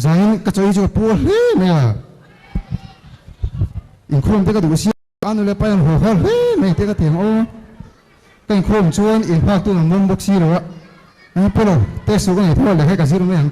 Zaiin ka chawi chu ka puar hle mai a, inkhawm te ka duh sia a, a nule pai an haw har hle mai tih ka ti ang aw. Ka inkhawm chuan in hngaktu'n an awm bawk si lo a, eng pawh lo test suh ka nei tho a leh hi ka zir mai ang.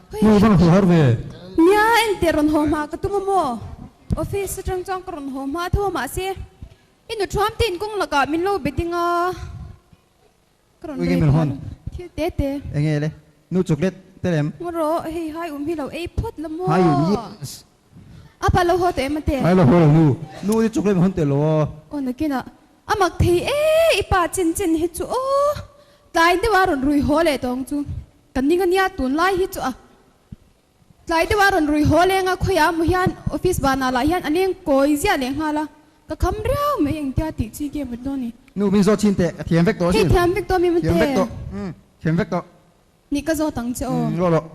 Hei hi ka hmuh ve. Nia engtih rawn haw hma ka tum a maw? Office atang chuan ka rawn haw hma a tho mah se i nu thuam te in kawng lakah min lo be ding a, ka rawn rei phah lo thil te te. Eng nge le? Nu chocolate te lem? Ngaw rawh, hei hai um hi lo ei phawt la maw? Hai um yes. A pa lo haw tawh em ate? Hai lo haw lo nu. Nu hi chocolate min hawn teh lo aw. Aw nakinah a mak thei e i pa chin chin hi chu aw. Tlai deuh a rawn rui haw leh tawng chu. Kan ning ania tunlai hi chu a tlai deuha rawn rui haw leng a, khawiah amaw hian office vanah lah hian an eng kawi ziah leh nghal a, ka kham riau mai engtia tih chi nge mut dawn ni. Nu min zawt chin teh, ka thiam vek tawh si. Hei thiam vek tawh mi mute. Thiam vek tawh, thiam vek tawh. Nih ka zawt ang che aw. Rawh rawh.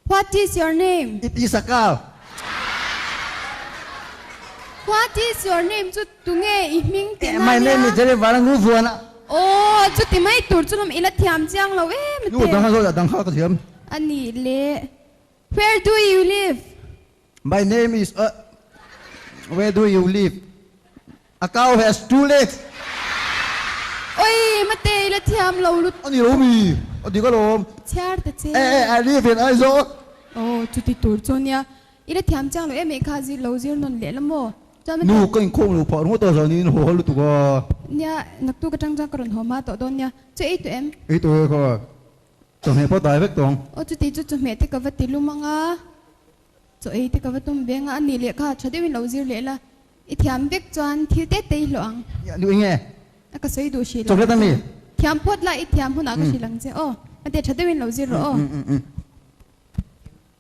What is your name? It is a car. What is your name chu tunge i hming tih na ania? My name is Jerry Varangu Vuana. Aww, chuti mai tur chu lam ila thiam chiang lo em a teh. Nu a dang a zawt a dang kha ka thiam. A nih leh. Where do you live? My name is a Where do you live? A cow has two legs. Oi, Mate ila thiam lo lut. Ani lo mi, a dik alawm. Chhiar ta che. Eh eh, I live in Aizawl. Oh, chuti tur chu nia. Ila thiam chang lo em eh kha zir lo zir nawn lehlam aw. Chuan Mate. Nu, ka inkhawm lo phah ringawt a, zan in haw hal lutuk a. Nia, naktuk atang chuan ka rawn haw hma tawh dawn nia. Chu ei tawh em? Ei tawh e kha. Chawhmeh pawh dai vek tawng. Aw chuti chu chawhmeh te ka va ti lumang a, chaw ei te ka va tum veng a, a nih leh kha tha deuhin lo zir leh la, i thiam vek chuan thil te te i hlawh ang. Nia duh i nge? A ka sawi duh hri lo. Chocolate a mi? Thiam phawt la, i thiam hunah ka hrilh ang che. Aw, hmate tha deuhin lo zir rawh aw.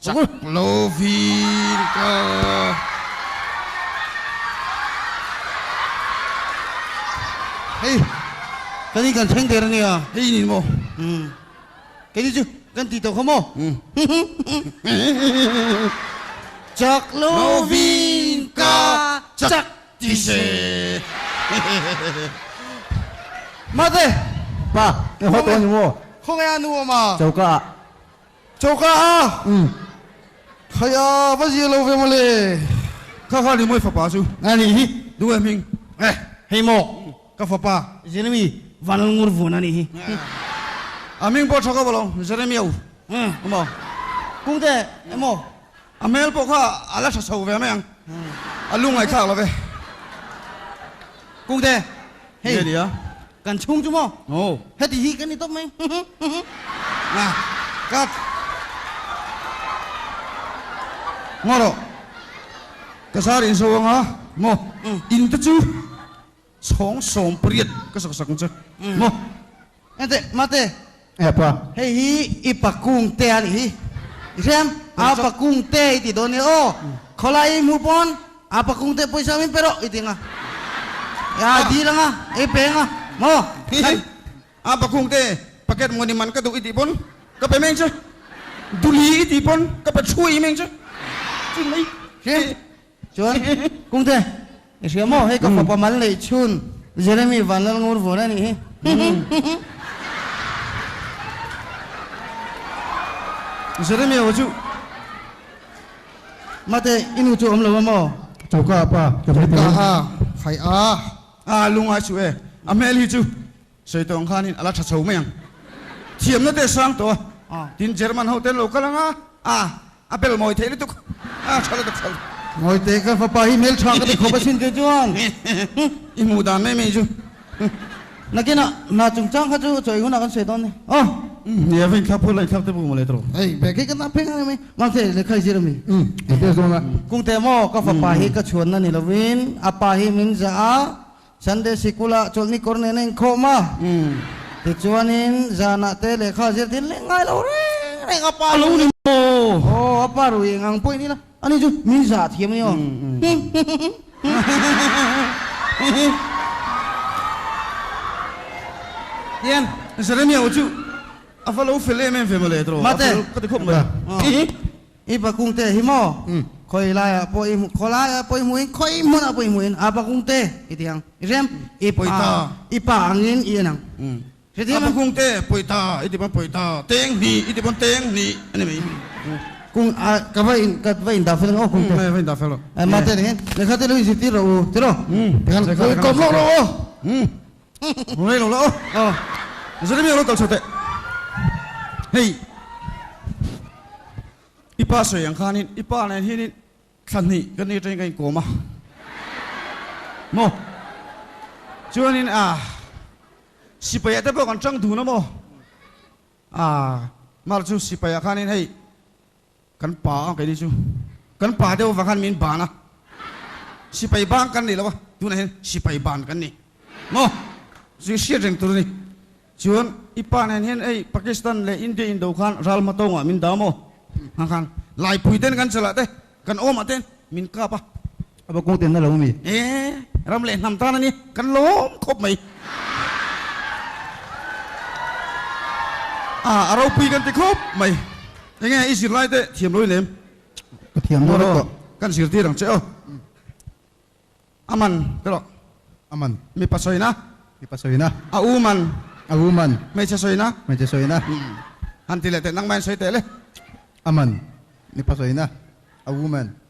Chak lo fir ka. Hei kan hi kan thleng der a nia. Hei inin maw. Umm kei ni chu kan ti tawh kha maw. Chak lo fir ka chak ti se. Mate. Pa, kei haw tawh a ni maw. Khawngaih a nu awm a. Choka ah. Choka a khaia va zia lo ve mawle. Kha kha ni mawi fapa chu. A nih hi. Duh e hming. Eh hei maw ka fapa Jeremy Vanlngurvun a nih hi. A hming pawh tha ka va lo Jeremy au a maw. Kung te e maw. A hmel pawh kha a la tha chho ve mai ang. A lu ngaithlak lo ve. Kung te hei. Nge nia. Kan chhung chu maw? Aw. Heti hi ka ni tawp mai. Nga. Cut. Maw rawh. Ka zar in zo ang a, maw? In te chu chhawng sawm pariat ka sak sak ang che, maw? Engte? Mate. Êa pa. Hei hi i pa kung te a ni hi. I hriam, a pa kung te i ti dawn nia. Aw, khawlai i hmuh pawn a pa kung te pawisa min pe rawh i ti ang a. Êa i dil ang a, i pe ang a. Maw khan. A pa kung te packet mawni man ka duh i tih pawn ka pe meng che. Duli i tih pawn ka pe thu i meng che. Chu mai. Hriam. Chuan, Kungte, i hria maw, hei ka fapa mal neih chhun Jeremy Vanlalngur vur a nih hi. Jeremy aw chu, Mate, i nu chu a awm lo a maw? Choka a pa, ka hre tih ang. Choka a, Haiaa, aa lungai suh e, a hmel hi chu. Sawihtawng khanin a la tha chho mai ang. Thiamna te sang tawh a, tin German ho te an lo kal ang a, a a bel mawi theih lutuk, a tha lutuk tha lutuk. Mawi teh ka fapa hi hmeltha ka ti khawp asin tih chuan i hmuh dan mai mai chu. Nakinah hna chung chang kha chu chawi hunah kan sawi dawn ni. Aw! Hne a va inthlak phur la inthlak te pawh maw leh a tawh? Hei, bag hi ka zam phek ang em e. Mang che, lehkha i zir a mi? Umm, i test dawn a. Kung te maw, ka fapa hi ka chhuanna ni lovin a pa hi min zah a, Sunday Sikula chawlhni kawr nen a inkhawm a, tichuanin zanah te lehkha zir dil leh ngai lo reng reng a pa lo ni maw? Aw a pa ruih engang pawh i nila, ani chu min za thiam emaw? Tian Jeremia-u chu a va lo fel em em ve mawle, tawrh a fel ka ti khawp mai. I bakungte hi maw? Khawi laiah pawh i hmu, khaw laiah pawh i hmu in, khawi hmunah pawh i hmu in, a bakungte i ti ang. I hriam? I pa, i pa angin i en ang. Hrethiam ang. A bakungte pawi ta i ti pawn pawi ta, teng hni i ti pawn teng hni a ni mai. Kung a, ka va in, ka va indah fel ringawt aw kungte. Nge, va indah fel rawh. Mahse nen hian lehkha te lo inzir tir rawh u, ti lo. Tikhan kawm lawk rawh aw. Hei lo la aw aw zari miak lo kal chho teh hei i pa sawi ang khan in i pa nen hian in thla hnih kan ni atangin ka in kawm a maw chuan in a sipai ah te pawh kan tang dun a maw a mar chu sipai ah khan in hei Kan pa ang keini chu kan pa deuh vang khan min ban a, sipai bang kan nih lo a, tunah hian sipai ban kan ni maw? Chu i hriat reng tur a ni. Chuan i pa nen hian ei Pakistan leh India indo khan ral hma tawngah min dah maw? Hmang khan Laipui ten kan chalahte kan awmah ten min kap a, A va kawngten na lo mi. E, ram leh hnam tan a ni. Kan lawm khawp mai. A, a ropui kan ti khawp mai. Enge i zirlaite thiam lo i lem? Ka thiam dawn a tawh. Kan zirtir ang che aw. A man te rawh. A man. Mipa sawina. Mipa sawina. A u man. A u man. Hmeichhe sawina. Hmeichhe sawina. Han ti leh teh nangmah in sawi teh le. A man. Mipa sawina. A u man.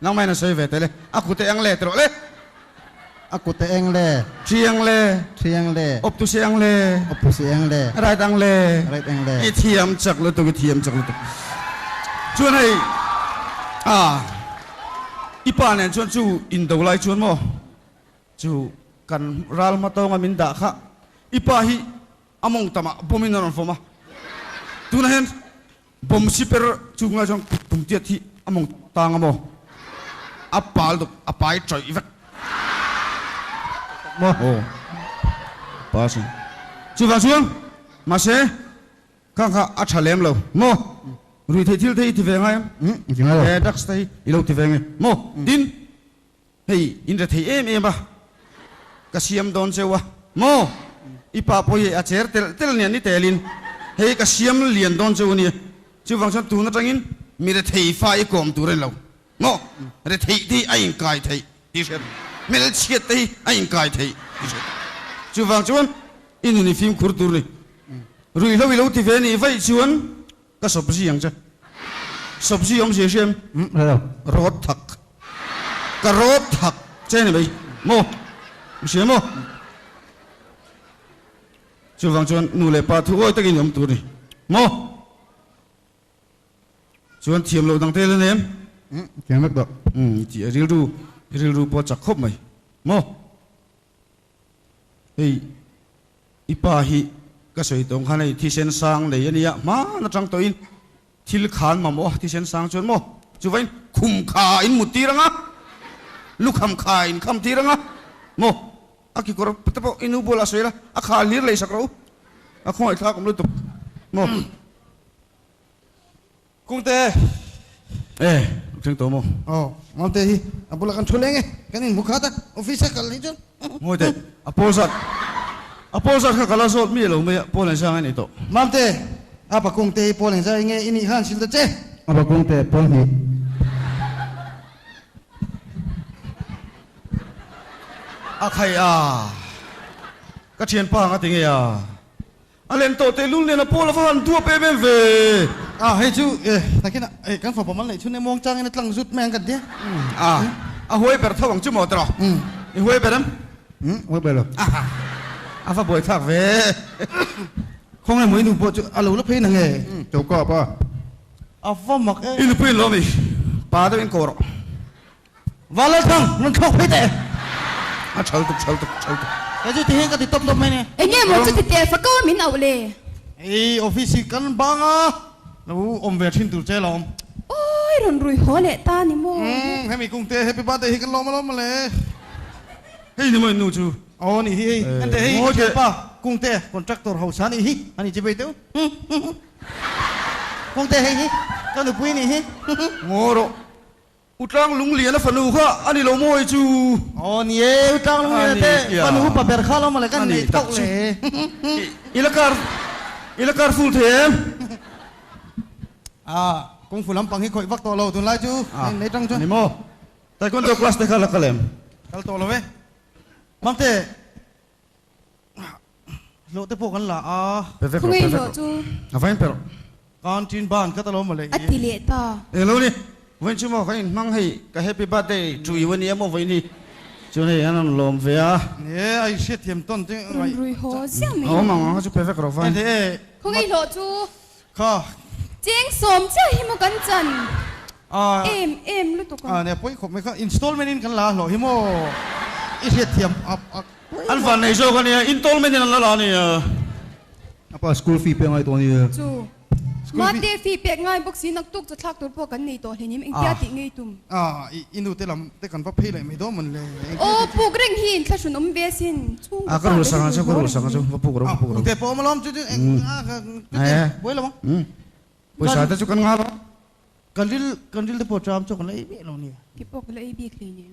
Nangmah in a sawi ve teh le. A kut e ang le tih rawh le. A kut e ang le. Thi ang le. Thi ang le. Opposite ang le. Opposite ang le. Right ang le. Right ang le. I thiam chak lutuk, i thiam chak lutuk. Chuan hei ah i pa nen chuan chu in do lai chuan maw chu kan ral hma tawnga min dah kha i pa hi A mawng tam ah bomb in a rawn fawm a, tunah hian bomb shipper chu ngai chuan kut tum tiat hi a mawng tang a maw? A pal dawk a pa hi chawih vek maw? Aw a pa si. Chuvang chuan mahse khang kha a tha lem lo maw? Ruih theih thil te hi ti ve ngai em? Ti ngai lo. He drugs te hi i lo ti ve nge maw? Tin. Hei, in re thei em em a, ka siam dawn cheu a. Maw? I pa pawh hi a cher telh telh nia, ni telin hei ka siam lian dawn cheu ania. Chuvang chuan tun atangin mi re thei fa i kawm tur a ni lo. Maw? Re theite hi a inkai theih tih hriat, hmelchhiatte hi a inkai theih tih hriat. Chuvang chuan i nun i fimkhur tur ni. Ruihhlo i lo ti ve nih vaih chuan Ka sawpzi ang che. Sawpzi awm zia hriam. Umm hrelo. Rawt thak. Ka rawt thak che ni mai maw? Ka hria maw? Chuvang chuan nu leh pa thuawi takin i awm tur ni maw? Chuan thiam lo dangte hian em? Umm thiam vek tawh. Umm i ti a. Rilru hi rilru pawh a chak khawp mai maw? Hei i pa hi ka sawi tawng khan hei thisen sang nei a nia hman atang tawhin thil kha an mamawh a, thisen sang chuan maw chuvain khum kha a in mut tir ang a, lukham kha a in kham tir ang a, maw a kekawr te pawh i nu bualah sawi la a khal hlir lei sak ro u, a khawngaih thlak awm lutuk maw. Kungte e, a ṭheng tawh maw? Aw, Malte hi a bulah kan ṭhu leng e, kan in hmu khat a, office a kal ni chuan. Ngawi teh, a pawl zat, a pawl zat kha kal a zawt mi a lo mai a, Paul Engzia ngai ni tawh. Malte, a pa Kungte hi Paul Engzia i nge i nih kha an sil ta che? A pa Kungte, Paul hnih. A khaih a, ka ṭhianpa ang a ti ngei a. A len tawh teh lul nen a pawl a va han duap em em ve a. Hei chu eh takin a eh kan fapa mal neih chhun e muang chang in a tlang zut mai ang kan ti a. A huai ber tho ang chu maw tawrh i huai ber em? Umm huai ber lo. A va buai thak ve khawnge maw i nu pawh chu a lo la phei nang e choka apa a va mak e. I nupuiin lo ami pa deuh in kawh rawh Va Lal Thang, rawn thlawk phei teh. A chhal tuk, chhal tuk, chhal tuk. Kei chu tihi ka ti tawp tawp mai ni. Enge emaw chu ti teh fakaw min auh le. Hei office hi kan bang a. Lo awm ve thin tur che lo awm. Awi rawn rui haw leh ta ni maw. Umm hemi kung te happy birthday hi kan lawm alawm mawle. Hei ni maw i nu chu. Aw ni hi hei. Ente hei ka thianpa kung te contractor hausa ni hi ani chi phei teuh. Kung te hei hi ka nupui ni hi. Ngaw rawh. U Tlang Lungliana fanu kha a ni lo maw hei chu? Aw ni e, U Tlang Lungliana te fanu pa ber kha lo maw le, kan inneih thauh le e. I la kar, i la kar ful thei em? Ah, kung fu lampang hi khawih vak tawh lo, tunlai chu kan innei tang chuan. A ni maw? Taekwondo class te kha la kal em? Kal tawh lo e, mam te. Hlawh te pawh kan la a. Pe vek lo, pe vek lo. Khawngei hlawh chu. A va en perh. Kan ṭin ban ka ta lo mawle i. A ti leh ta. Eng lo ni? Vawinchin maw kan inhmang hei ka happy birthday to you a nia maw vawiin hi? Chuan hei an rawn lawm ve a. He ai hriat thiam tawn te ngaih. Rawn ruihaw ziah mai ang. A awm ang a chu pe vek lo vawiin. Eng hle e. Khawngei hlawh chu. Kha. Cheng sawm chiah hi maw kan chan? Ahh. Em em lutuk a. Ahh nia pawi khawp mai kha installment in kan la hlawh hi maw? I hriat thiam a a. An van nei zawk a nia, installment in an la la a nia. A pa school fee pek ngai tawh a nia. Chu. School fee. Mate fee pek ngai bawk si naktuk chathlak tur pawh kan nei tawh hlenin engtia tih ngei tum? Aah, i i nute lam te kan va phei laih mai dawn mawn le. Aw, puk reng hi in thlahrun awm ve asin, chhung ka pa ka ri duh zawk a ni. Aw, nute pawh awm alawm chu chu eng ah ka tute buai lo a. Pawisa te chu kan nghal a. Kan ril, kan ril te pawh chu a awm chu kan la ei bik lo a ni. Ti pawh ka la ei bik hle nen.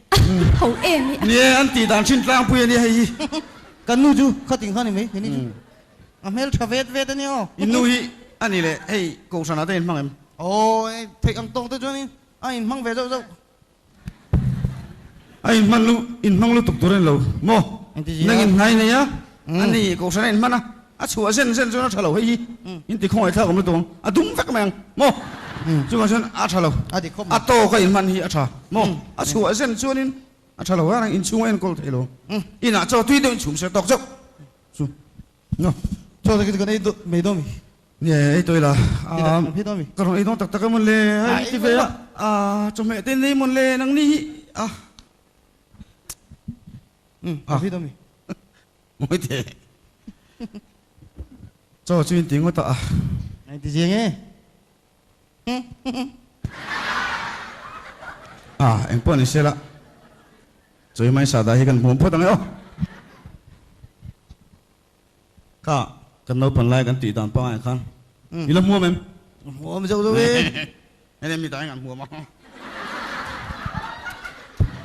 Tho em hi a. Ni e, an tih dan thin tlangpui a nia hei hi. Kan nu chu khatin kha a ni mai, he ni chu a hmel tha vet vet a nia aw. In nu hi a ni le, hei kohhranah te a inhmang em? Aw, hei theih ang tawng te chuanin a inhmang ve zauh zauh. A inhman lu, inhmang lutuk tur a ni lo. Maw? Engtiziah? Nangin hnai nei a, a ni, kohhran a inhman a, A chhuah zen zen chuan a tha lo hei hi in ti khawngaih thlak awm lutuk ang, a dum vek mai ang maw? Chuvang chuan a tha lo, a tawk a inhman hi a tha maw? A chhuah zen chuanin a tha lo vat ang, inchhung a enkawl thei lo, inah chaw tui deuhin chhum sia tawk zeuh chu maw? Chaw te kan ei mai dawn mi? Nge ei tawi la ka rawn ei dawn tak tak em le, hei ti ve a, chawhmeh te nei mawn le, nangni hi a, a, Mawi teh. Chaw chu inti ngawt a. A inti ziang e. A, eng pawh ni sela. Chu hi hmaisa dah hi kan hmuh phawt ang e. Aw! Ka, kan naupang lai kan tih dan pangai khan. I la hmuam em? Hmuam zeuh zeuh e. Heng em ni ta eng an huam a.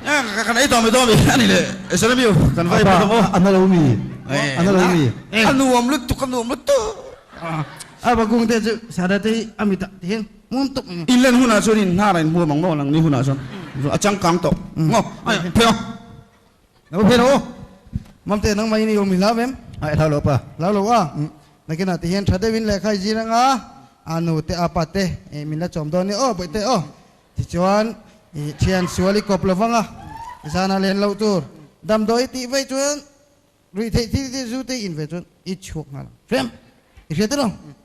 Aa kan ei tawh mai dawn a ni le I salam you kan va ei pawh dawn a. A na lo mi a na lo mi. A nuam lutuk a nuam lutuk. A bakung te chu Sara te hi a mi tak thiang muam tak a ni. In len hunah chuan in hnar a in huam ang maw lang ni hunah chuan a changkang tawh maw. Phei a. Ka hre lo. Mamte nang mah i ni awm hi hlau em? Ai hlau lo pa. Hlau lo a? Umm. Nakinah ti hian tha deuh in lehkha i zir anga a nu te a pa te i min la chawm dawn nia aw Bawihte aw. Tichuan i thian sual i kawp lo vang a, i zan a len loh tur damdawi i tih veih chuan ruih theih thil te zu te i in ve chuan i chhuak nghal ang. Hre em? I hriat e lo.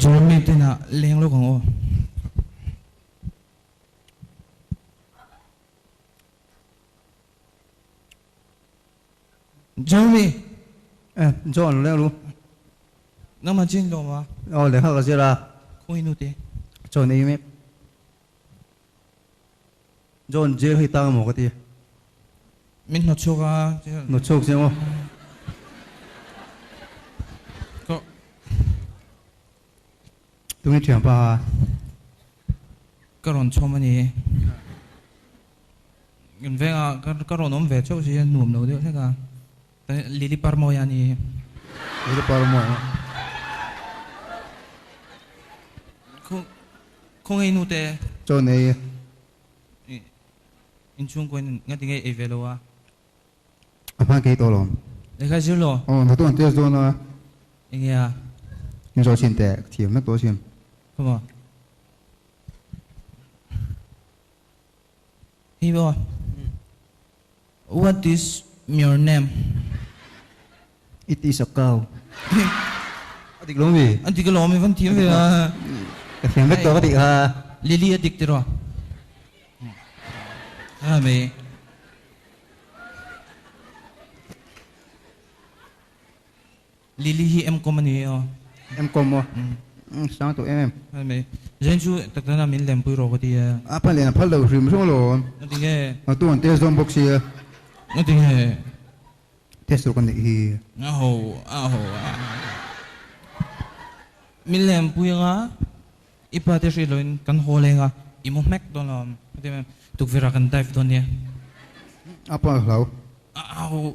John mi te hnah leng lawk ang aw. John mi. Eh John leng lu. Nang man chin hlawm a. Aw lehkha ka zir a. Khawngi nu te. John ei mek. John jail hi tang emaw ka ti a. Min hnawchhuak a tia. Hnawchhuak sia maw? Ka. Tunge thiam pa a. Ka rawn chhawm a ni. Veng a ka rawn awm ve chauh si a nuam lo deuh hlek a. Lily Parmoi a ni. Lily Parmoi. Khawngei nu te. Chawn ei. In chhung kuain nga ti ngei ei ve lo a. A hman kei tawh lo. Lehkha zir lo. Aw, natu an test dawn a. Enge a. In zawh chin teh, ka thiam hek tawh chin. Khawmaw. Hi aw. What is your name? It is a cow. A dik lo mi? A dik alawm i van thiam ve a. Ka thiam vek tawk a nih kha. Lily a dik tiraw? Aa mei. Lily hi M-Com a ni e aw. M-Com aw. Umm, sang tawh em em. Hoi mai. Zeng chu tak tak nana min lem pui rawh ka ti a. A pa nen a phal lo hrim hrawng lo. A ti nge. A tu an test dawn bawk sia. A ti nge. Test rawh ka neih hi. A ho, a ho a. Min lem pui anga i pa te hrilh loin kan haw leng a, i mu hmek dawn lo. Ka ti mai em. Tukverh ah kan dive dawn nia. A pa hlau. A ho.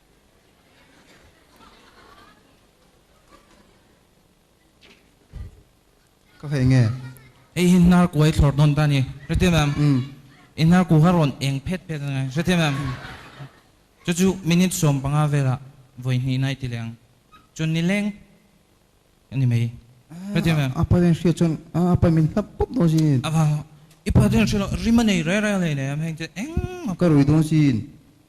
Ka hei nge. Hei hi hnar kuai thlawr dawn ta ni. Hrethiam em? Umm. I hnar ku kha rawn eng phet phet a ni. Hrethiam em? Umm. Chu chu minute sawm panga velah vawi hnih nai ti leh ang. Chuan ni leng a ni mai. Hrethiam em? A pa hian hriat chuan a pa min hnap pawp dawn si in. A va. I pa te hian a hriat lo, rim a nei reng reng a nei nei em heng che eng maw? Ka rui dawn si in.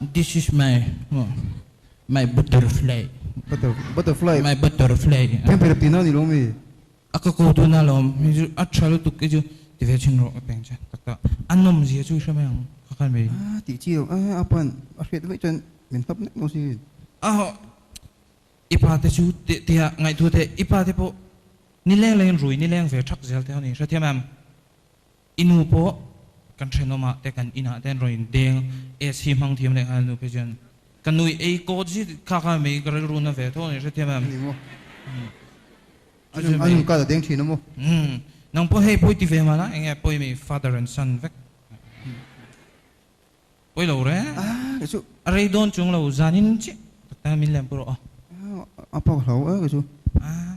This is my my butterfly. Butter butterfly. My butterfly. Thiam phei lo tihna a ni lomi? A ka ko tuna a lawm. Hei chu a tha lutuk hi chu ti ve thin rawh a peng che tak a. A nawm zia chu i hre mai ang kha khan mai. A tih chi lo a a pa'n a hriat mai chuan min hnap nek maw si? A haw. I pa te chu teh teh a ngaihtuah theih. I pa te pawh ni leng lengin rui ni leng ve thak zel te a ni. Hrethiam em? I nu pawh kan thenawmah te kan inah te an rawn indeng. Ace hi hmang thiam leh nghal nupe chuan ka nui ei kawt zit kha kha mei ka rilru na ve tho ni hrethiam em? Ni maw? Umm. A chu mei. Ka la deng thin a maw? Umm. Nang pawh hei pawi ti ve mah la eng nge pawi mi father and son vek? Pawi lo re. Aah ka chu. A rei dawn chung lo zanin chiah tak tak hian min lem pawh rawh. Aah a paw ka hlau e ka chu. Aah.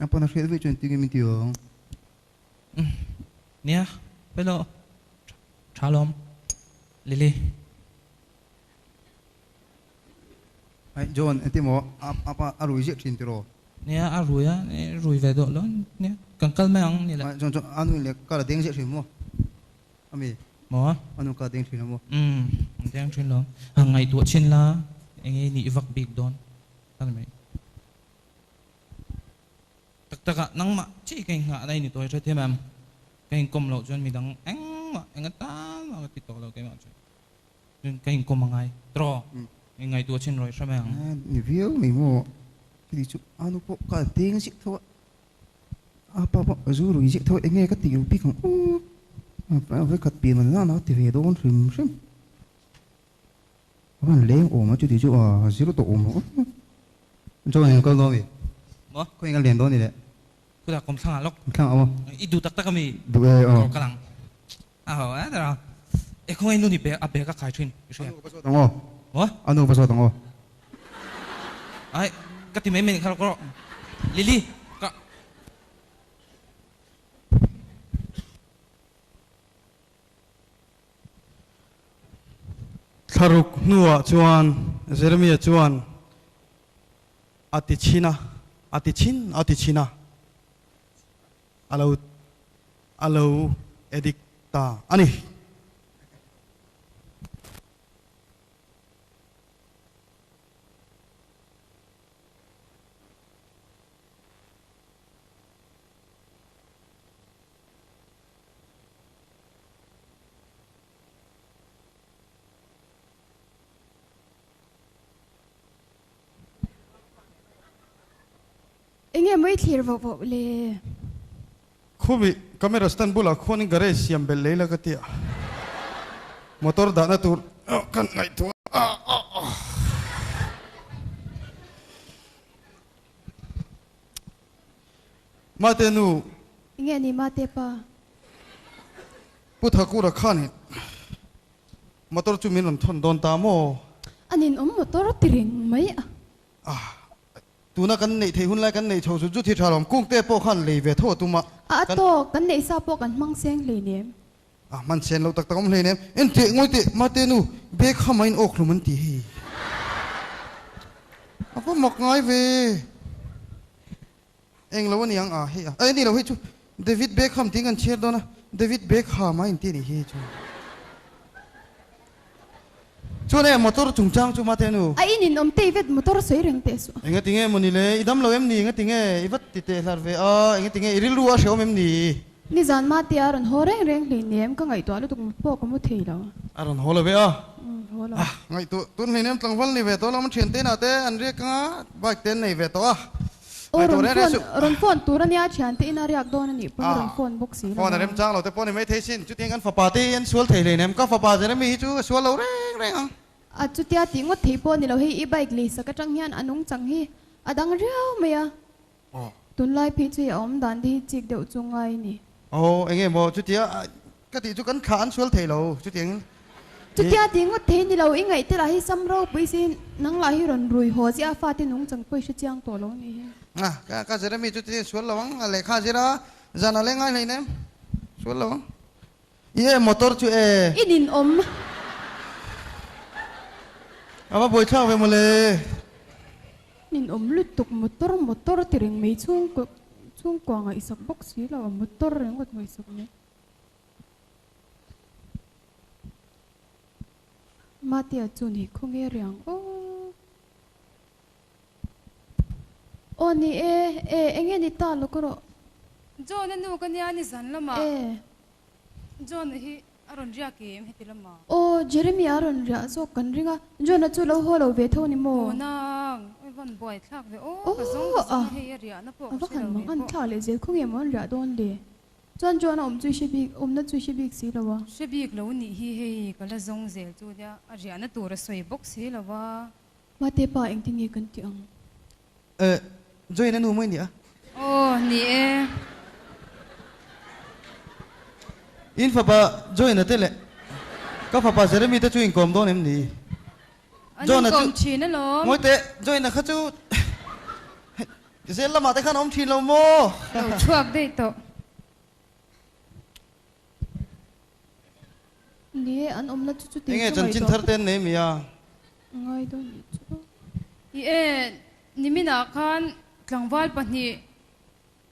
A pawn a hriat vek chuan tingin min ti awng. Umm. Nia, Felo, tha lawm, Lily. Ai, John, enti maw? A a pa a rui ziah thin tiraw? Nia, a rui a, i rui ve duah lo nia. Kan kal mai ang ni le. Ai, John chuan a nunle kal a deng ziah thin maw? Ami. Maw? A nun kal a deng thin lo maw? Umm, a deng thin lo. A ngaihtuah thin la, enge i nih vak bik dawn a ni mai. Tak tak ah nangmah chi ka inghah na i ni tawi ṭha thim em? Ka inkawm loh chuan midang engmah eng ata mah ka ti tawh lo keimah chuan chuan ka inkawm a ngai tro i ngaihtuah a chinrawi hram e ang. A ni viau mai maw? Chutih chu Anu pawh ka an teng ziah tho a, a pa pawh a zu rui ziah tho a, enge ka tih lo bik ang u? Vai khat pian an la a ka ti ve dawn hrim hrim. Khawiin leng awma chuti chu a zir tawh awm hawk a. Joan in kal dawn a mi. Maw? Khawiin ka len dawn ni le. Khutah kawm thlangah lawk. Thlang a maw? I duh tak tak a mi. Duh e aw. Ka lang. A haw e tawh a. E khawngaih nu nih a bag a khai thin. I hria. A nu ka zawt ang aw. Maw? A nu ka zawt ang aw. Ai, ka ti mai mai nih kha ka rawh. Lily, ka. Thlaruk hnuah chuan Jeremia chuan a ti chhin a, a ti chhin a ti chhin a, a lo a lo e dik ta a ni. Enge mawi thlir vauh vauh le. Khuvi camera stand bulah khuanin garage siam belh lei la ka ti a. Motor dahna tur kan ngaihtuah a. Mate nu. I nge ni Mate pa. Pu Thakura khan i motor chu min rawn thawn dawn ta maw? An inawm motor ti reng mai a. A. Tuna kan neih theih hun lai kan neih chho zut zut hi tha lo. Kung te pawh khan lei ve tho a tum a. A a tawk, kan neih sa pawh kan hmang seng hlei lem. A hman chian lo tak tak awm hlein em? Enteh ngawi teh, Mate nu, Beckham a in awk hlawm an ti hei. A va mak ngai ve. Eng lo a ni ang a hei a. Ai a ni lo hei chu, David Beckham tiin kan chhiar dawn a, David Beckham a inti a nih hi hei chu. Chuan hei a motor chung chang chu mate nu. A in in awm tei vet motor sawi reng teh suh. Eng a ti nge mawni le i dam lo em ni eng a ti nge i vat ti teh hlar ve a eng a ti nge i rilru a hrehawm em ni. Nizan mate a rawn haw reng reng hlei ni em ka ngaihtuah lutuk mi pawh ka mu thei lo. A rawn haw lo ve a. Umm haw lo. Ngaihtuah tun hleinem tlangval ni ve tawh lo ama thian te nate an riak anga bike te an nei ve tawh a Aw rawn phone rawn phone tur ania a thian tein a riak dawn anih pawh i rawn phone bawk si lova. Phone a rem chang lo te pawh ni maithei sin. Chutiang an fapa te hi an sual thei hle nen ka fapa Jeremy hi chu a sual lo reng reng ang. A chutia tih ngawt thei pawh ni lo hei i bike lei sak atang hian a nung chang hi a dang riau mai a. Tunlai phei chu i a awm dan te hi chik deuh chu ngai ni. Aw, eng nge maw? Chutia ka tih chu kan thlah an sual thei lo, chutiangin i. Chutia tih ngawt thei ni lo, i ngaih te lah hi sam ropui si, nang lah hi rawn rui haw zia a fate nung changpuia hre chiang tawh lo ni hi. Nga, ka ka Jeremy chu tih sual lo ang, a lehkha a zir a, zan a leh ngai hlei nem, sual lo ang. I e motor chu e. I nin awm. A va buaithlak ve maw le? Min awm lutuk motor motor ti reng mai chhung chhungkua ngaihsak bawk si lo a motor ringawt ngaihsak mai Matia chu ni khaw nge riang aw aw ni e e enge ni ta lawk rawh John a nu ka nia ni zan lamah John hi. A rawn riak em heti lama? Aw, Jeremy a rawn riah zawk kan ring a. John-a chu lo haw lo ve tho ni maw? Aw nang, i van buai thlak ve aw, ka zawng ka zawng a hei a riahna pawh ka hre lo ve pawh. Thlak leh zel khawngin maw an riah dawn le? Chuan John-a awm chu i hre bik, awmna chu i hre bik si lo a. Hre bik lo nih hi hei ka la zawng zel chu nia, a riahna tur a sawi bawk si lo a. Mahte pa engtin nge kan tih ang? Eh, Joy na nu mawi nia. Aw, ni e. In fapa Joy na te leh ka fapa Jeremy te chu inkawm dawn em ni? An Joy na chu, inkawm thin alawm. Mawi teh, Joy na kha chu zel lamah te khan a awm thin lo maw? Lo chhuak daih tawh. Ni e, an awmna chu chutin chu ngaihtuah pawh. Enge chanchin thar te an nei mai a? Ngai deuh ni chu. Ni e, niminah khan tlangval pahnih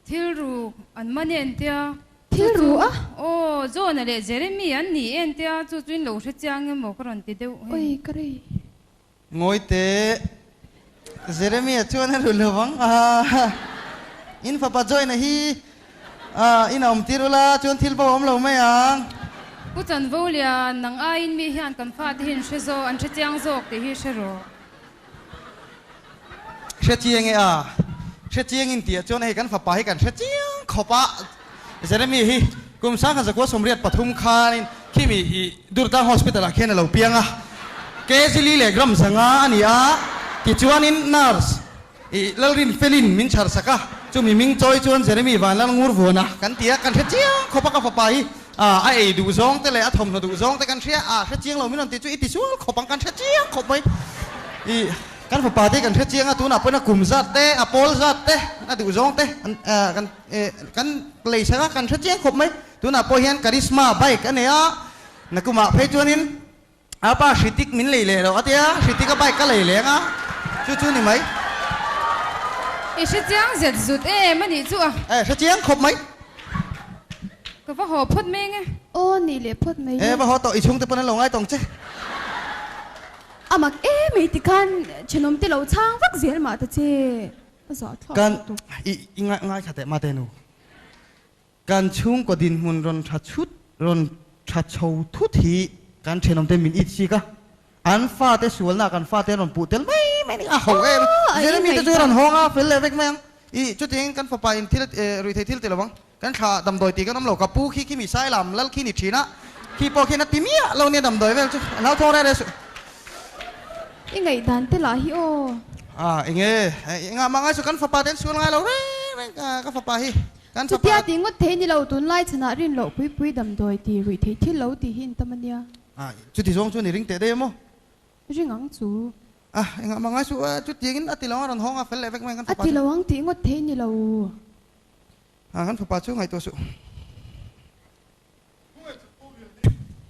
thil ru an man en tia. Thil ru a? Aw, Jonah leh Jeremy an ni en tia, chu chu in lo hre chiang emaw ka rawn ti deuh hen. Awii ka rei. Ngawite, Jeremia chuan a hlu lo vang a, In fapa Joina hi inah awm tir ula chuan thil bo a awm lo mai ang. Pu Chanvolia, Nang aiin mi hian kan fate hi an hre zawk, an hre chiang zawk tih hi hre rawh. Hre chiang e a, hre chiang in tih ah chuan hei kan fapa hi kan hre chiang khawp a. Jeremy hi kum sangha zakua sawmriat pathum khanin khimi i Durtlang Hospital ah khian a lo piang a, Kejili leh gram zanga a ni a. Tichuanin Nurse i Lalrin Felin min chhar sak a, chumi ming chawi chuan Jeremy Vanlal Ngurvuana kan ti a, kan hre chiang khawp a ka fapa hi a ei duh zawngte leh a thawmhnaw duh zawngte kan hria a, hre chiang lo min rawn ti chu i tisual khawp ang kan hre chiang khawp mai i kan fapa te kan hre chiang a tunah pawhin a kum zat te a pawl zat te a duh zawngte kan. Eh, kan lei sangah kan hre chiang khawp mai. Tunah pawh hian Karisma bike a nei a, na kumah phei chuanin a pa Hritik min lei leh loh a tia, Hritika bike ka lei leng a, chu chu ni mai. I hre chiang zet zut em a nih chu a. Eh, hre chiang khawp mai. Ka va haw phawt meng e. Aw ni leh phawt mai le. Eh, va haw tawh, i chhungte pawn an lo ngai tawng che. A mak e mai tikhan thenawmte lo chhang vak zel mah ta che. Kan, i ngaithla teh mah teh nu. Kan chhungkaw dinhmun rawn tha chhut, rawn tha chho thut hi kan thenawm te min itchik a. An fate sualnaah kan fate an rawn puh tel mai mai a ni. A hauh em! Jeremy te chu a rawn hawng a, fel leh vek mai ang. I chutin kan fapa in thil a ruih thei thil teh lo ang. Kan thla damdawi tih kan awm lo ka pu khi khi mi sai lam lal khi ni thin a khi pawh khian a ti miah lo nia damdawi vel chu a hlauthawng reh reh suh. I ngaihdan te lah hi aw. A enge i ngah mah ngai suh kan fapa te an sual ngai lo reng reng ka ka fapa hi kan fapa. Chutia tih ngawt thei ni lo tunlai chhan ah rin loh pui pui damdawi tih ruih theih thil lo tih hi in tam ania. A chuti zawng chuan i ring teh daih emaw. I ring ang chu. A i ngah mah ngai suh a chutiang in a ti lo ang a rawn hawng a fel leh vek mai ang kan fapa chu. A ti lo ang tih ngawt thei ni lo. a, kan fapa chu ngaihtuah suh.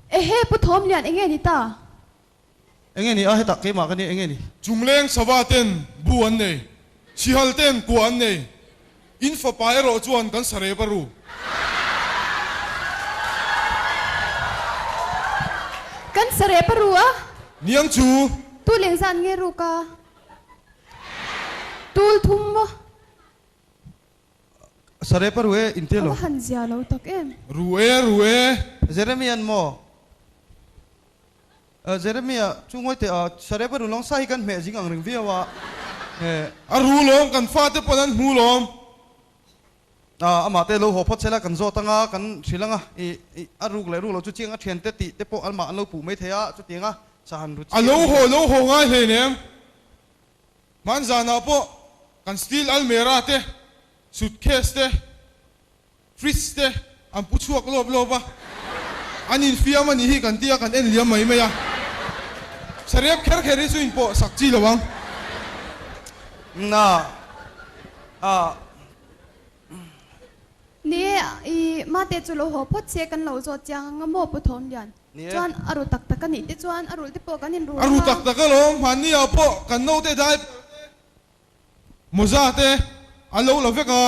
Ehe, Pu Thawmlian enge ni ta? Enge ni a, hetah keimah ka nia, enge ni? Chungleng sava ten bu an nei, chhihal ten kuah an nei, in fapa erawh chuan kan sarep a ru. Kan sarep a ru a. Niang chu. Tuleng zan nge ruk a? Tul thum maw? Sarepa ru e, inti lo. A va han zia lo tak em. Ru e, ru e. Jeremy an maw? Ahh, Jeremy a, chu Ngawitea, ahh, Sarepa ru lawng sa hi kan hmeh zing ang reng viau a, heh. A ru lawng, kan fate pawh nan hmu lawm. Ahh, amah te lo haw phawt sela kan zawt anga kan hrilh anga, ih, ih, a ruk leh ruk lo chu chiang a thian te tih te pawh an mah an lo puh mai thei a, chutianga sa han ru chiang a ni. A lo haw, lo haw ngai hleinem. Hman zanah pawh kan steel almera te, suitcase te, fridge te an pu chhuak lawp lawp a, an infiam a nih hi kan tia kan en liam mai mai a. Sarep kher kher hi chu in pawh sak chi lo ang. Ni e, i mate chu lo haw phawt che kan lo zawt chiang ang a maw pu Thawmlian? Chuan a ru tak tak a nih te chuan a rulhte pawh kan inru ringawm a. A ru tak tak alawm, hmanniah pawh kan naute dai mawza te an lo la vek a.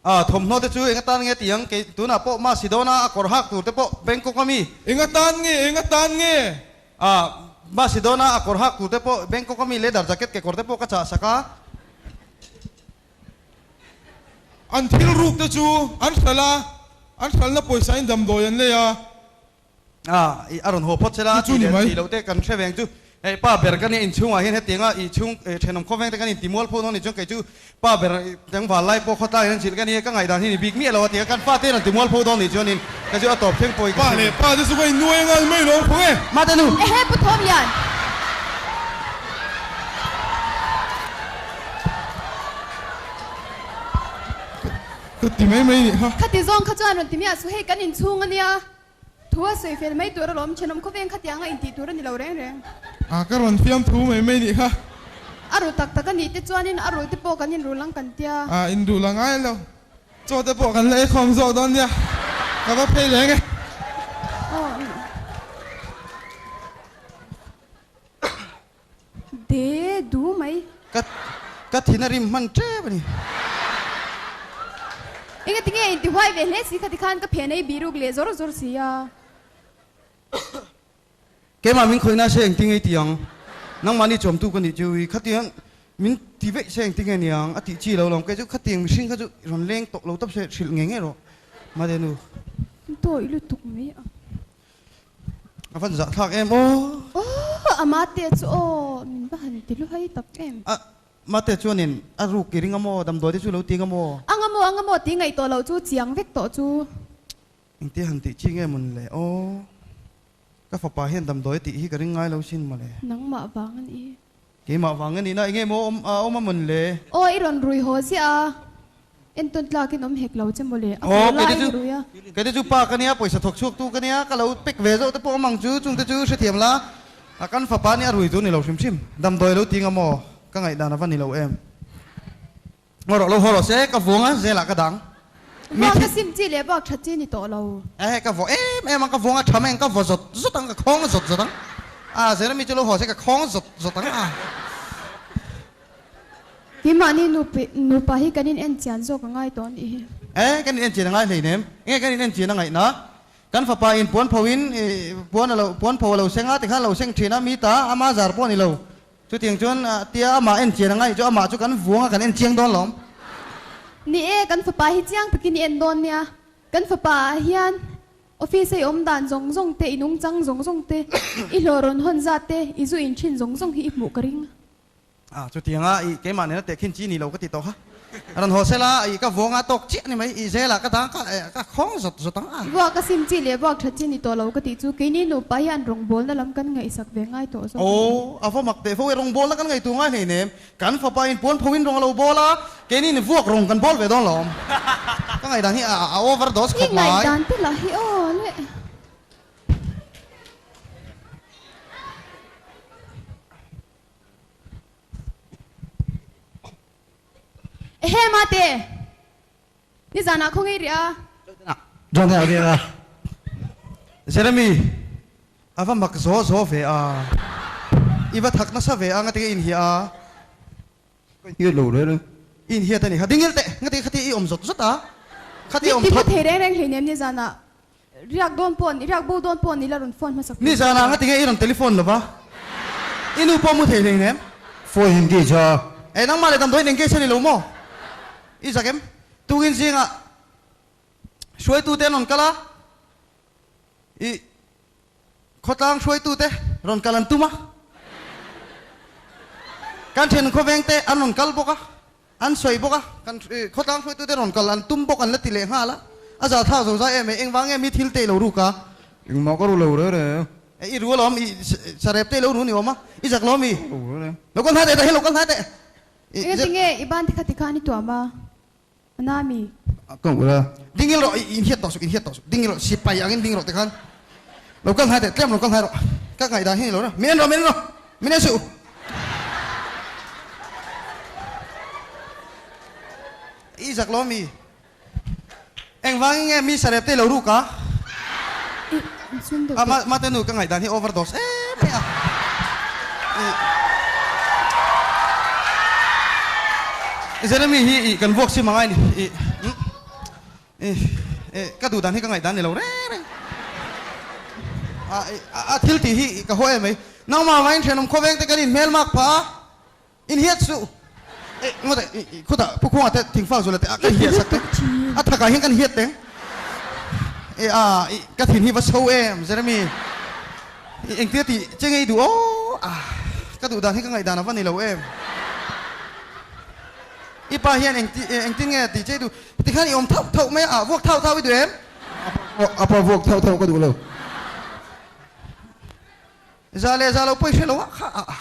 A thawmhnaw te chu eng atan nge tiang? Kei tunah pawh ma Sidona a kawr hak tur te pawh Bangkok a mi. Eng atan nge? Eng atan nge? A ma Sidona a kawr hak tur te pawh Bangkok a mi le dar jacket kekawr te pawh ka chahsak a. An thil rukte chu an hral a, an hralna pawisa-in damdawi an lei a. A ih a rawn haw phawt sela, a ti leh ti lohte kan hre veng chu hei pa ber ka nia inchhung ah hian hetiang a ih chhung eh thenawm khawp vengte kan inti mual phu dawn nichuan keichu pa ber teng val lai pawh khawtlai in an chilh ka nia ka ngaihdan hi ni bik miah lo a ti a kan fate hian an ti mual phu dawn ni chuanin ka chu a tawp thleng pawhin ka hre ve. Pate chu ka innuai a ngai mai lo ang phawng e. Mate nu. Ehe pu Thawmyan. Ka ti mai mai nih ha. Khati zawng kha chuan rawn ti miah su hei kan inchhung a nia. Thu a sawi fel mai tur a lawm. Thenawm khawveng khatiah anga intih tur a ni lo reng reng. Ah ka rawn fiam thu mai mai nih ha. A ru tak tak a nih te chuanin a ru te pawh kan inruh lang kan tia. Ah induh la ngai lo. Chaw te pawh kan la eikhawm zawh dawn nia. Ka va phei leng e. Aw. De du mai. Ka ka thin a rim hman tep a ni. Enga tinge a intihuai ve hle si kha tikhan ka phen a i bihruk leh zawr zawr si a. Keimah min khawina se engtin nge i ti ang? Nangmah ni chuamtu ka nih chu i, khati hian min ti veih se engtin nge ni ang? A tih chi lo lawm. Kei chu khati eng mihring kha chu i rawn leng tawh lo tap se, hrilh ngei ngei rawh Madenu. Dawi lutuk mai ang. A van zah thlak em aw. Aww! A mahte chu aw min va han ti luhai tak em. A mahte chuan in, A ruk i ring a maw? Damdawi te chu lo ti ang a maw? Ang a maw, ang a maw tih ngaih tawh loh chu chiang vek tawh chu. Engti han tih chi nge mun le aw? Ka fapa hian damdawi tih hi ka ring ngai lo sin mawle. Nangmah vang a ni. Keimah vanga nihna enge maw awm a awm a mawn le. Aw i rawn rui haw ziah a, entawn tlak in awm hek lo che maw le, a pawl la i ni rui a. Keite chu pa ka nia, pawisa thawk chhuak tu ka nia, ka lo pek ve zawh te pawh amang chu chungte chu hrethiam la, a kan fapa nia a rui chu ni lo hrim hrim, damdawi a lo ting a maw, ka ngaihdan a va ni lo em. Ngaw rawh lo haw rawh se ka vawng a zela ka dang. Vawng ka sim chi leh bawk tha chi ni tawh lo. Ahe ka vawh em em ang ka vawng a tha mai ang ka vawh zawt zawt ang ka khawng zawt zawt ang a zela mi chu lo haw se ka khawng zawt zawt ang a. Hi mahni nupi nupa hi kan in en chian zawk a ngai tawh anih hi. Ae kan in en chian a ngai hlei nem enge kan in en chian a ngaih na kan fapa in puan pho in puan a lo puan pho a lo seng a tikhan a lo seng thin a mi ta ama zar pawh a ni lo Chuting chuan a tia amah enchian angai chu amah chu kan vuanga kan enchiang dawn lo. Ni e, kan fapa hi chiang takin i en dawn nia. Kan fapa ah hian office-a i awm dan zawng zawng te, i nungchang zawng zawng te, i hlawh rawn hawn zat te, i zu in thin zawng zawng hi i hmuh ka ring. A, chutianga i keimah nen a teh khin chi ni lo ka ti tawh ha. A rawn haw sela, ih ka vawng a tawk chiah ni mai, ih zela ka dang kha eh ka khawng zawt zawt ang a. Buak ka sim chi leh buak that chi ni tawh lo ka tih chu kei ni nupa hian rawngbawlna lam kan ngaihsak ve ngai tawh zawk a ni. Aw, a va mak teh fo e, rawngbawlna kan ngaitu ngai hlein em? Kan fapa in puan phoin rawng a lo bawl a, kei ni in vuak rawng kan bawl ve dawn lo awm. Ka ngaihdan hi a a over dose khawp mai. I ngaihdan te lah hi aw le. Ehe mah te ni zan ah khaw ngei rih a. John ten ah veng a. Jeremy a va mak zaw zaw ve a. I va thak nasa ve a ngatekin i inhiah a. Ka inhiat lo reng reng. I inhiat a ni kha. Dingil teh ngatekin khatia i awm zawt zawt a. Khatia awm thawt. Mitthi va thei reng reng hleinem ni zan ah Riak dawn pawh ni, riak bo dawn pawh ni la rawn phone hmasak tur Nizan ang a ti nge i rawn telephone lova i nu pawh mu thei hlein em? Phone in engage a. Eh nangmah leh damdawiin engage a ni lo maw? I zak em? Tungin zingah hruaitute an rawn kal a, i. Khawtlang hruaitute rawn kal an tum a, kan then khawvengte an rawn kal bawk a, an sawi bawk a, kan khawtlang hruaitute rawn kal an tum bawk an la ti leh nghal a, a za thak zo zai em e, engvang nge mi thil te i lo ruk a? Engmah ka ru lo reng reng e. E, i ru alawm e, i sa rep te i lo ru ni awm a, i zak lawm e. Ka ru reng reng e. Lo kal hnai teh, tah hian lo kal hnai teh. Engatinge i ban tikhat tikha an i tuam a? A na mi? A tawng ula. Ding in rawh, in hiat tawh suk, in hiat tawh suk. Ding in rawh, sipai angin ding rawh te khan. Lo kal hnai teh, tlem lo kal hnai rawh. Ka ngaih dan hian i lo reng. Min en rawh, min en rawh. Min en suh. I zak lo mi? Engvangin nge mi sarep te i lo ruk a? Mate nu ka ngaih dan hi overdose em mai a ih Jeremy hi ih kan vuak sim angai ni ih ih ih ka duh dan hi ka ngaih dan ni lo reng reng a ih a thil tih hi ih ka haw em mai nangmah vangin thianawm khawvengte kan inhmel mak pha a. In hiat chu eh ngawt eh i khutah pu khunga te thing fak zula te ah kan hiat sak teh a thak ah hian kan hiat teng eh ah i ka thin hi va chho em Jeremy i engtir ti che ngei duh aww ah ka duh dan hi ka ngaih dan a va ni lo em i pa hian eng ti eh eng tin nge ti che i duh ti khan i awm thauh thauh mai a ah vuak thauh thauh i duh em a pa vuak thauh thauh ka duh lo za leh za lo pawh i hre lo a kha ah.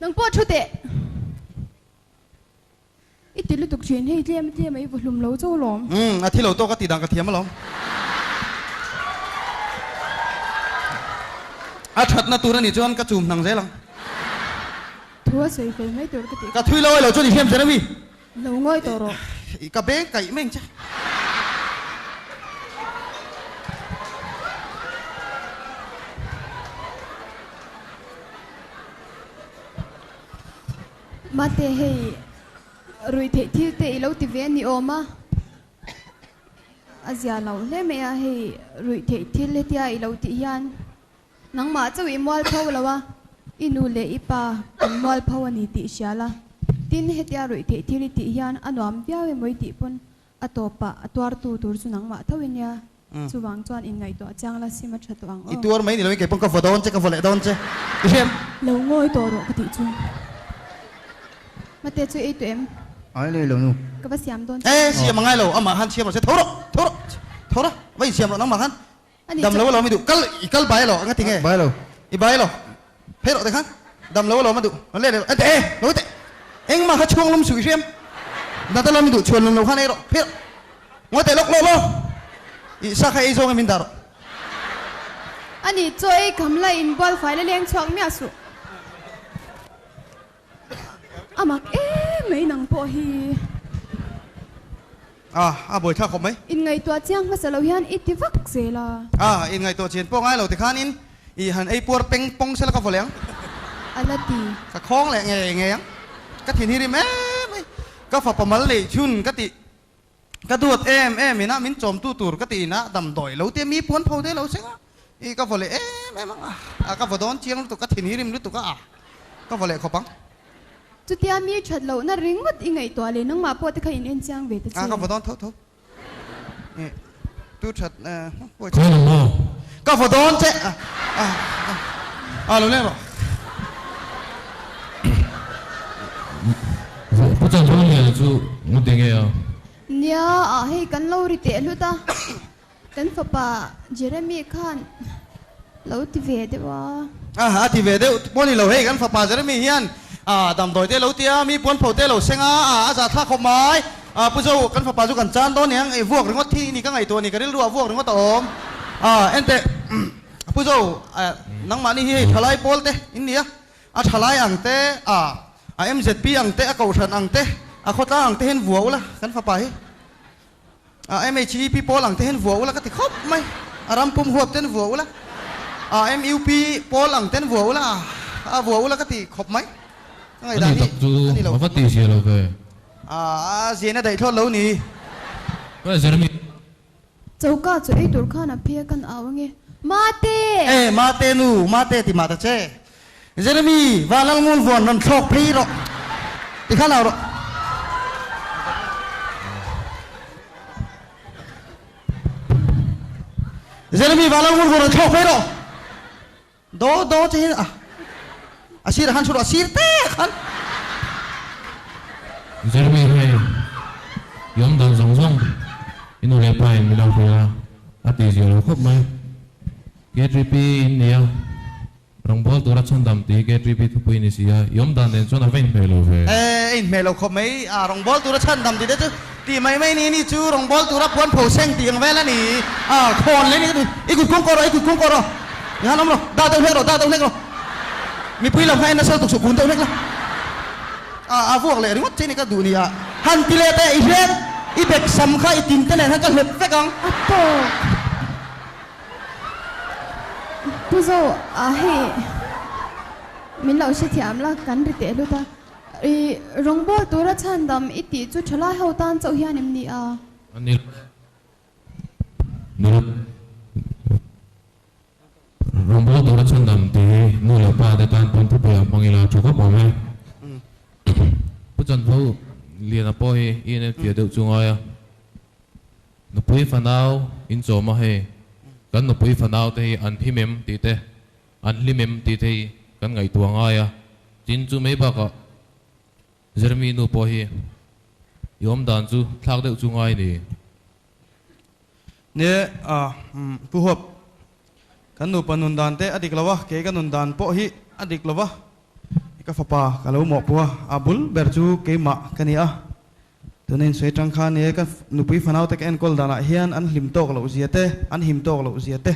Nang pawh thu teh. I ti lutuk thin hei tlem tlem a i vahlum lo chau lawm. Umm a thi lo tawk a ti dang ka thiam alawm. A thatna tur a nih chuan ka chum hnang zel ang. Thu a sawi fel mai tur ka tih kha. Ka thui lo ai lo chu ni hliam zen a mi. Lo ngawi tawh rawh. I ka beng kaih meng che. Mate hei rui theih thil te i lo ti ve ni awm a. A zia loh hle mai a hei rui theih thil hetia i lo tih hian Nangmah chauh i mual pho lo a, i nu leh i pa an mual pho a ni tih hria la, tin hetia ruih theih thil i tih hian a nuam viau em awih tih pawn a tawpah a tuartu tur chu nangmah tho i nia, chuvang chuan in ngaihtuah chiang la sim a tha tawh ang aw. I tuar mai ni lovin kei pawn ka vaw dawn che, ka vaw leh dawn che i hriat. Lo ngawi tawh rawh ka tih chu. Mate chu ei tawh em? Ai nei lo nu. Ka va siam dawn che. Ee siam a ngai lo, amah khan siam lo se tho rawh, tho rawh, tho ra, va in siam rawh nangmah khan. Ani chuan. Damlo alawm i duh kal i kal bai alawm anga ti nge? Bailo. I bai alawm phei rawh tikhan damlo alawm a duh a let erawh e lo teh engmah kha chhuanglawm suh i hriam dat alawm i duh chhuanlawm lo khan erawh phei rawh ngawi teh lawk lawk law i sa kha ei zawng em in dah rawh. Ani chaw ei kham la in bualfai la leng chhuak miah suh. A mak em mai nang pawh hi. Ah a bawithlak khawp mai. In ngaihtuah chiang hmasa lo hian i ti vak zel a. Ah in ngaihtuah chian pawh ngai lo ti khan in i han ei puar peng pawng se la ka vawlei ang. A la ti. Ka khawng leh ngei ngei ang. Ka thinhir im em mai. Ka fapa mal nei chhun ka tih Ka duat em em in a min chawmtu tur ka ti in a damdawi lo tia mi puan pho deuh lo seng a i ka vawleh em em ang a ka vawdawn chiang lutuk ka thinhi rim lutuk a ka vawleh khawp ang. Chutia mi that lohna ringawt i ngaihtuah le nangmah pawh te kha in enchiang ve ta che. A ka vawdawn tho tho i. Tu that huai thei lo maw? Ka va dawn che a a a lo leh maw? Pu Changrulngiaina chu mu ti nge a. Nia ah hei kan lo ri teh hlut a, kan fapa Jeremy khan. Lo ti ve deuh a. A a ti ve deuh pawh a ni lo. Hei kan fapa Jeremy hian a damdawite a lo ti a, mi puan pho te a lo seng a, a a za thlak khawp mai. A pu Zo, kan fapa chu kan chan dawn nia, ngeih vuak ringawt thi i ni ka ngaih tawh a ni, ka rilru ah vuak ringawt a awm. A ente a pu Zo, a nangmahni hi hei thalai pawl te in nia, a thalai ang te, a a mzp ang te, a kohhran ang te, a khawtlang ang te hian vua ula kan fapa hi. A MHVP Pawl ang te hian vua ula ka ti khawp mai. A ram pum huap ten vua ula. A MUP Pawl ang ten vua ula a vua ula ka ti khawp mai. Ka ngaih dan hi a ni lo thin mai. A Ziaina daih thlawt lo ni. Ka zir mi. Choka chu eitur khan a phia kan au ange. Mate! E, Mate nu, Mate ti mah ta che. Jeremy, va lalngawl vuan rawn thlawk phei rawh. Ti kha lo rawh. Jeremy, va lalngawl vuan rawn thlawk phei rawh. Do do che hi ah. A sirah khan thu rawh, a sir te khan. Jeremy hei i awm dan zawng zawng. I nu leh pa in mi lo hria a tihzia lo khawp mai. K3P in nia, Rawngbawl tura chhandam ti hi KTB thupui ni si a, i awm dan nen chuan a va in hmeh lo ve. E, a in hmeh lo khawp mai. A, rawngbawl tura chhandam ti te chu tih mai mai ni ni chu rawngbawl tura puan pho seng tih ang vel a ni. A, thawn leh ni ka ti. I kut kung kaw rawh, i kut kung kaw rawh. I han awm rawh, dah deuh hlek rawh, dah deuh hlek rawh. Mipui lam kha enna sel tuk suh kun deuh hlek la. A, a vuak leh ringawt che ni ka duh ni a. Han ti leh teh i hriat, i bek sam kha i tin te nen han ka hlet vek ang. A tawk. Pu Zo, Ah hei min lo hrethiam la, kan ri teh hlut a. I rawngbâwl tûra chhandam i tih chu ṭhalai ho tân chauh hian em ni a? A ni lo em. Ni lo em. Rawngbâwl tûra chhandam tih hi nu leh pate tân pawn thupuiah hmang ila ṭhu khawp awm e. Pu Chanhlo Liana pawh hi i en em fia deuh chu ngai a. Nupui fanau in chawma hei kan nupui fanau te hi an him em tih te an hlim em tih te hi kan ngaihtuah ngai a, tin chu mai bakah zirmi nu pawh hi i awmdan chu thlak deuh chu ngai ni. Nge a Pu Huap, kan nupa nun dan te a dik lo a, kei ka nun dan pawh hi a dik lo va, i ka fapa ka lo mawhpua a bul ber chu keimah ka ni a. Tuna insawi tang khan e, ka nupui fanaute ka enkawl danah hian an hlim tawk loh zia te, an him tawk loh zia te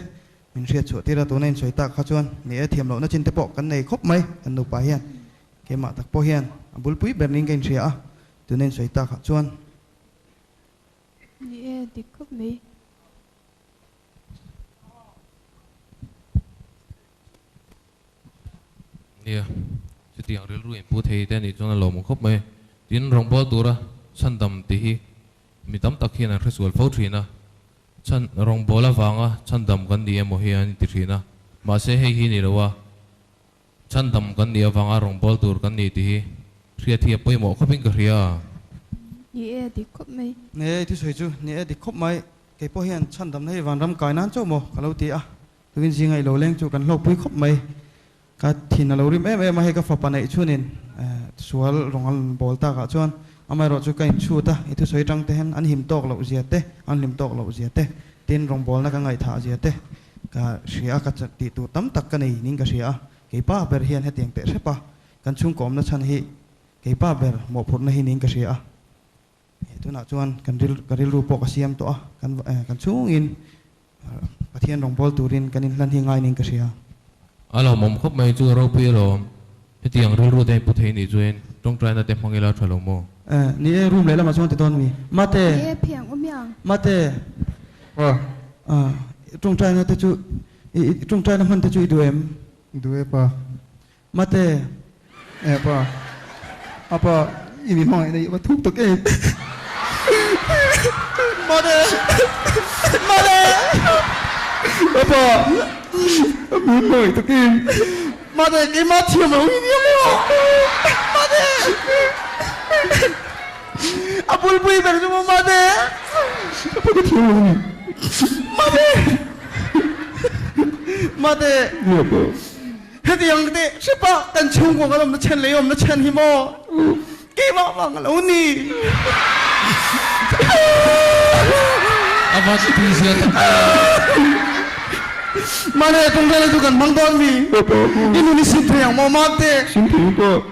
min hriat chhuah tir a, tuna insawi tak kha chuan ni e, thiam lohna chinte pawh kan nei khawp mai, kan nupa hian keimah tak pawh hian a bulpui ber niin ka inhria a, tuna insawi tak ah chuan. Ni e, dik khawp mai. Nia, chutiang rilru in pu thei te a nih chuan a lawmawm khawp mai. Tin, rawngbâwl tura chhandam tih hi mi tam tak hian an hresual fo ṭhin a. Chhan, rawngbâwl avanga chhandam kan ni emaw hi an inti ṭhin a. Mahse, hei hi ni lo a, chhandam kan nih avanga rawngbâwl tur kan ni tih hi hriat hi a pawimawh khawpin ka hria a. Ni e, a dik khawp mai. Ni e, i thusawi chu. Ni e, a dik khawp mai. Kei pawh hian chhandamna hi vanram kai nân chauh maw? Ka lo ti a. Takin zinga i lo leng chu kan hlawkpui khawp mai. Ka thin a lo rim em em a, hei ka fapa neih chuanin sual rawn an bawl tak ah chuan amaherawh chu ka inchhut a, i thusawi tang te hian an him tawk loh zia te, an hlim tawk loh zia te, tin rawn bawlna ka ngaihthah zia te ka hria a, ka tih tur tam tak ka nei ning ka hria a, keipa ber hian hetiang teh hrep a, kan chhungkawmna chhan hi keipa ber mawhphurhna hi ning ka hria a, He tunah chuan kan ril, ka rilru pawh ka siam tawh a, kan eh, kan chhungin Pathian rawngbâwl turin kan inhlan hi ngai niin ka hria. A hlauhmawm khawp mai chu ropi alawm, hetiang rilru te in pu thei nih chuan tawngtaina te hmang ila tha lo maw? Eh, ni e, room lehlamah chuan ti dawn mi. Mate! Ni e, phiang awm ia. Mate! Aw. Ah, i tawngtaina te chu, i tawngtaina hman te chu i duh em? I duh e pa. Mate, e pa, a pa, i mi hmangaihna hi a va thuk tak em. Mate, mate, a pa, a mi hmangaih tak em. Mate, keimah thiam lo hi ni emaw? Mate, a bulpui ber chu maw mate? A pa, ka thiam lo a ni. Mate, mate. Nia pa. Heti ang ka ti, Hripa, kan chhungkua kan awmna chhen lei awmna chhen hi maw keimah avang a lo ni? A va ti phei zia tak a. Mahni a kawngkhar hi chu kan hmang dawn mi. I nun hi sin phei ang maw? Mark teh. Sin phei hi pawh.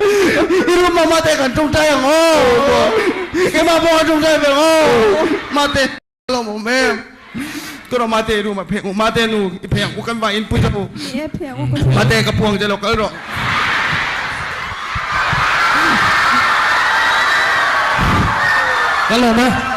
I rum mah mahte kan ṭawngṭai ang aw, i mah pawh kan ṭawngṭai ve ang aw, mahte a lo awm em? Kawrawh mahte i rum a pheng u, mahte nu i pheng u kan va inpui ta bu, mahte ka phuang te lo kal rawh. Kal lo mah.